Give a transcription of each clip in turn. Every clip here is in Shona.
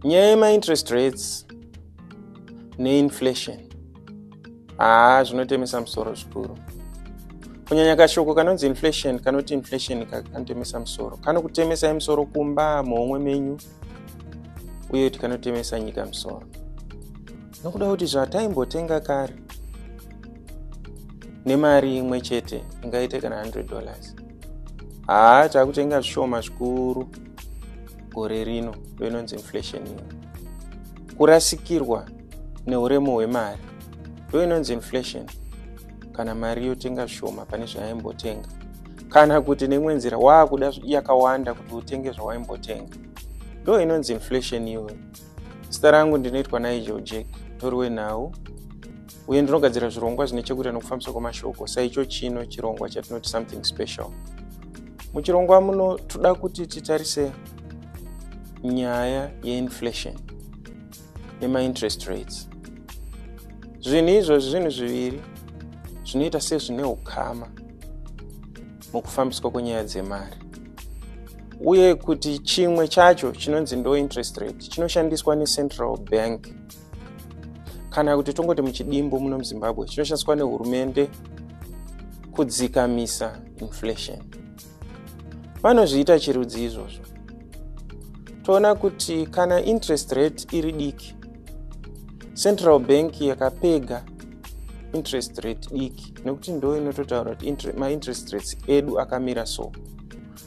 nyaya yemainterest rates neinflation haa zvinotemesa musoro zvikuru kunyanya kashoko kanonzi inflation kanoti inflation kanotemesa musoro kanokutemesai musoro kumba muhomwe menyu uye kuti kanotemesa nyika musoro nokuda kuti zvataimbotenga kare nemari imwe chete ingaite kana 100 dollars haa takutenga zvishoma zvikuru gore rino ndoinonzi inflation iyo kurasikirwa neuremu hwemari ndoinonzi inflation kana mari yotenga shoma pane zvayaimbotenga kana kuti neimwe nzira waakuda yakawanda kuti utenge zvawaimbotenga ndo inonzi inflation iwe zita rangu ndinoitwa nigel jack tori wenhau uye ndinogadzira zvirongwa zvine chekuita nokufambiswa kwemashoko saicho chino chirongwa chatinoti something special muchirongwa muno toda kuti titarise nyaya yeinflation nemainterest rates zvinhu izvozvi zvinhu zviviri zvinoita sezvine ukama mukufambiswa kwenyaya dzemari uye kuti chimwe chacho chinonzi ndointerest rate chinoshandiswa necentral bank kana kuti tongoti muchidimbu muno muzimbabwe chinoshandiswa nehurumende kudzikamisa inflation vanozviita chirudzi izvozvo toona kuti kana interest rate iri diki central bank yakapega interest rate diki nekuti ndo inototaura kuti mainterest rates edu akamira so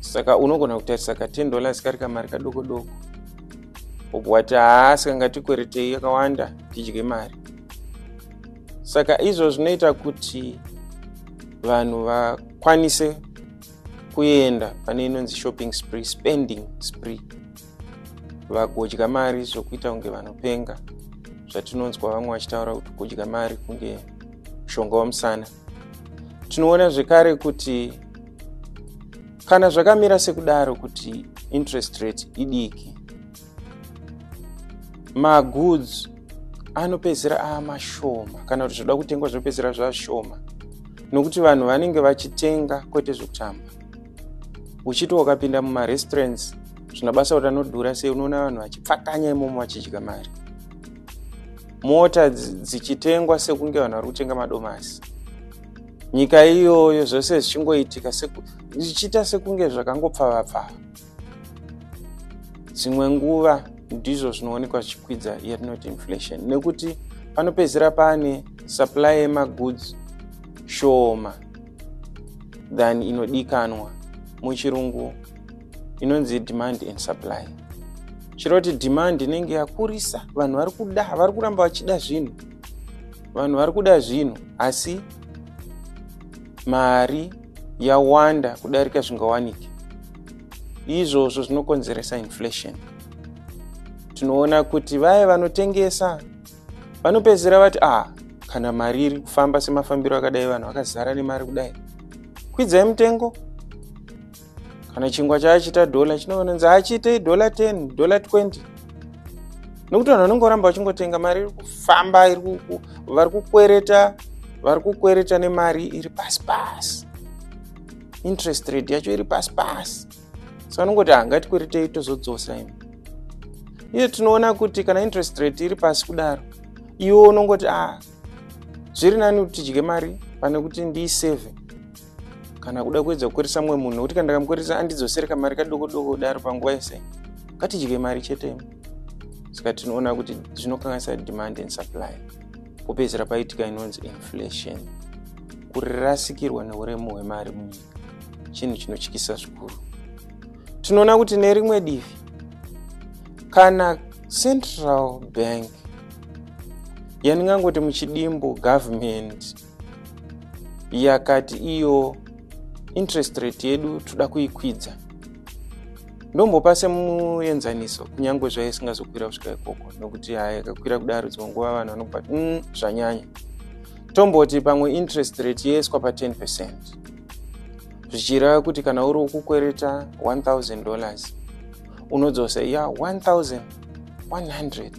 saka unogona kutarisa ka 10 dollars kari kamari kadoko doko obwati haasi kangatikweretei yakawanda tidye mari saka izvo zvinoita kuti vanhu vakwanise kuenda pane inonzi shopping spree spending spree vagodya mari zvokuita kunge vanopenga zvatinonzwa vamwe vachitaura kuti kudya mari kunge mushonga wamusana tinoona zvekare kuti kana zvakamira sekudaro kuti interest rate idiki magoods anopedzera amashoma kana kuti zvoda kutengwa zvinopedzera zvashoma nokuti vanhu vanenge vachitenga kwete zvekutamba uchiti wakapinda mumarestaurants zvina basa kuti anodhura sei unoona vanhu vachipfakanya imomo vachidya mari mota dzichitengwa sekunge vanhu vari kutenga madomasi nyika iyoyo zvose zvichingoitika zvichiita sekunge zvakangopfavapfava dzimwe nguva ndizvo zvinoonekwa zvichikwidza yatinoti inflation nekuti panopedzisira pane supply yemagoods shoma than inodikanwa muchirungu inonzi demand and supply chero kuti demand inenge yakurisa vanhu vari kuda vari kuramba vachida zvinhu vanhu vari kuda zvinhu asi mari yawanda kudarika zvingawanike izvozvo zvinokonzeresa inflation tinoona kuti vaye vanotengesa vanopedzisira vati ah kana mari iri kufamba semafambiro akadai vanhu vakazara nemari kudai kwidzai mutengo kana chingwa chaachiita dollar chinonzi hachiitei dollar 10 dollar 20 nokuti vanhu vanenge voramba vachingotenga mari iri kufamba vari kukwereta vari kukwereta nemari iri pasi pasi interest rate yacho iri pasi pasi so vanongoti hangatikweretei ah, tozodzosa imi iye tinoona kuti kana interest rate iri pasi kudaro iwe unongoti a ah, zviri nani kuti tidye mari pane kuti ndiiseve kana kuda kuedza kukweresa mumwe munhu nekuti kana ndakamukweresa andidzosere kamari kadoko doko kudaro panguva yese ngatidye mari chete saka tinoona kuti zvinokanganisa demand and supply popedzera paitika inonzi inflation kurirasikirwa neuremu hwemari munyika chinhu chinotyisa zvikuru tinoona kuti nerimwe divi kana central bank yandingangoti muchidimbu government yakati iyo interest rate yedu toda kuikwidza ndombopa semuenzaniso kunyange zvaive singazokwira kusvika ikoko nokuti haya yakakwira kudaro dzimwe nguva vanhu vanokupa mm, zvanyanya tomboti pamwe interest rate yeiswa pa 10 percent zvichireva kuti kana uri kukwereta 1000 dollars unodzosa ya 1100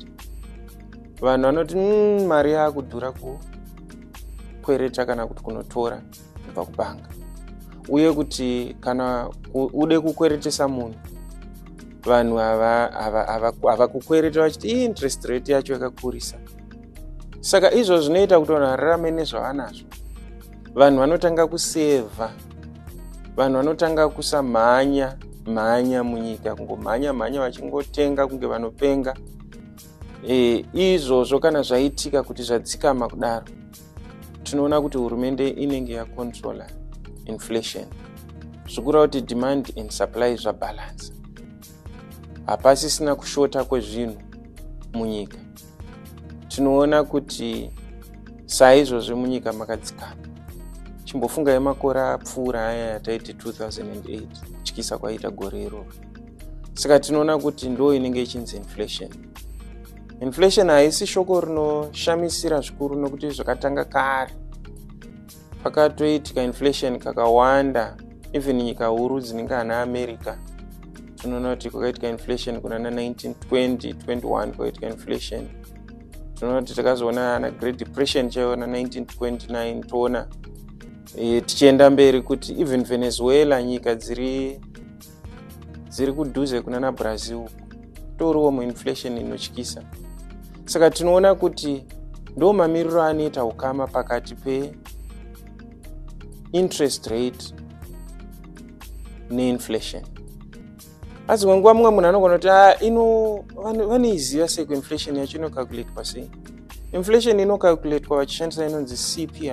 vanhu vanoti mm, mari yakudhura kukwereta kana kuti kunotora kubva kubhanga uye kuti kana ude kukweretesa munhu vanhu havakukwereta vachiti i interest rate yacho yakakurisa saka izvo zvinoita kuti vanhu vararame nezvavanazvo vanhu vanotanga kusevha vanhu vanotanga kusamhanya mhanya munyika kungomhanya mhanya vachingotenga kunge vanopenga e, izvozvo kana zvaitika kuti zvadzikama kudaro tinoona kuti hurumende inenge yacontrola inflation zvikura kuti demand and supply zvabalance hapasisina kushota kwezvinhu munyika tinoona kuti saizvozvi munyika makadzikama chimbofungai makore apfuura aya yataiti 2008 kutyisa kwaiita gore iroro saka tinoona kuti ndo inenge ichinzi inflation inflation haisi shoko rinoshamisira zvikuru nokuti zvakatanga kare pakatoitika inflation kakawanda even nyika huru dzinenge ana america tinoona kuti kwakaitika inflation kuna na 1920 21 kwakaitika inflation tinoona kuti takazoona ana great depression chaiyo na 1929 toona e, tichienda mberi kuti even venezuela nyika dziri dziri kudhuze kunana brazil toriwo muinflation inotyisa saka tinoona kuti ndo mamiriro anoita ukama pakati peinterest rate neinflation asi kwenguva mumwe munhu anogona kuti ah, ino vanoiziva sei kuinflation yacho inocalculatwa sei inflation inocalculatwa vachishandisa inonzi cpi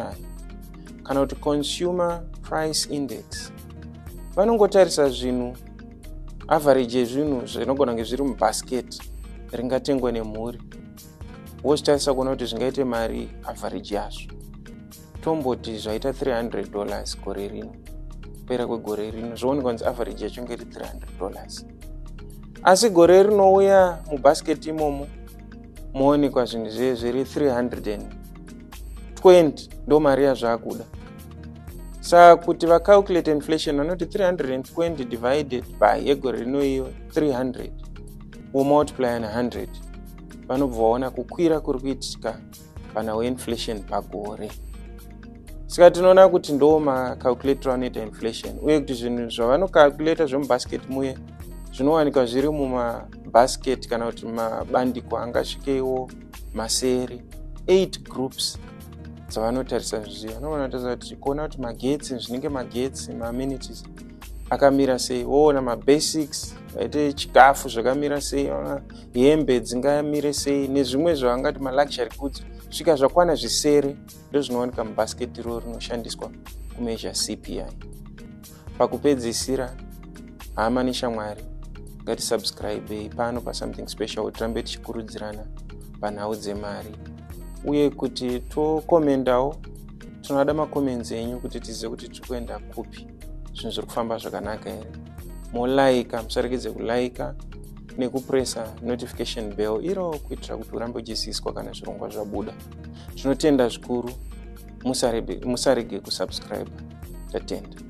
kana kuti consumer price index vanongotarisa zvinhu average yezvinhu zvinogona kunge zviri mubasket ringatengwa nemhuri wozvitarisa kuona kuti zvingaite mari average yazvo tomboti zvaita 300 dollars gore rino kupera kwegore rino zvoonekwa kunzi average yacho nge iri 300 dollars asi gore rinouya mubasket imomo moonekwa zvinhu zve zviri 320 ndo mari yazvaakuda sa kuti vacalculate inflation vanoti 320 divided by yegore rino iyo 300 womultiplya ne100 vanobva vaona kukwira kuri kuitika pana weinflation pagore saka tinoona kuti ndo macalculator anoita inflation uye kuti zvinhu zvavanocalculator zvemubasket muye zvinowanikwa zviri mumabasket kana kuti mabandiko angasvikeiwo maseri 8 groups dzavanotarisa zviya no vanotarisa kuti kuona kuti magetsi zvinenge magetsi maamenities akamira sei woona mabasics aite chikafu zvakamira sei hembe dzingamire sei nezvimwe zvavangati maluxury goods svika zvakwana zvisere ndozvinowanika mubasket ro rinoshandiswa kumeasure cpi pakupedzisira hama neshamwari ngatisubscribei pano pasomething special kuti tirambe tichikurudzirana panhau dzemari uye kuti tokomendawo tinoda macomments enyu kuti tizive kuti tiri kuenda kupi zvinhu zviri kufamba zvakanaka here molaika musarekidze kulaika nekupresa notification bell iro kuitira kuti urambe uchiziswa kana zvirongwa zvabuda tinotenda zvikuru musarege kusubscribe tatenda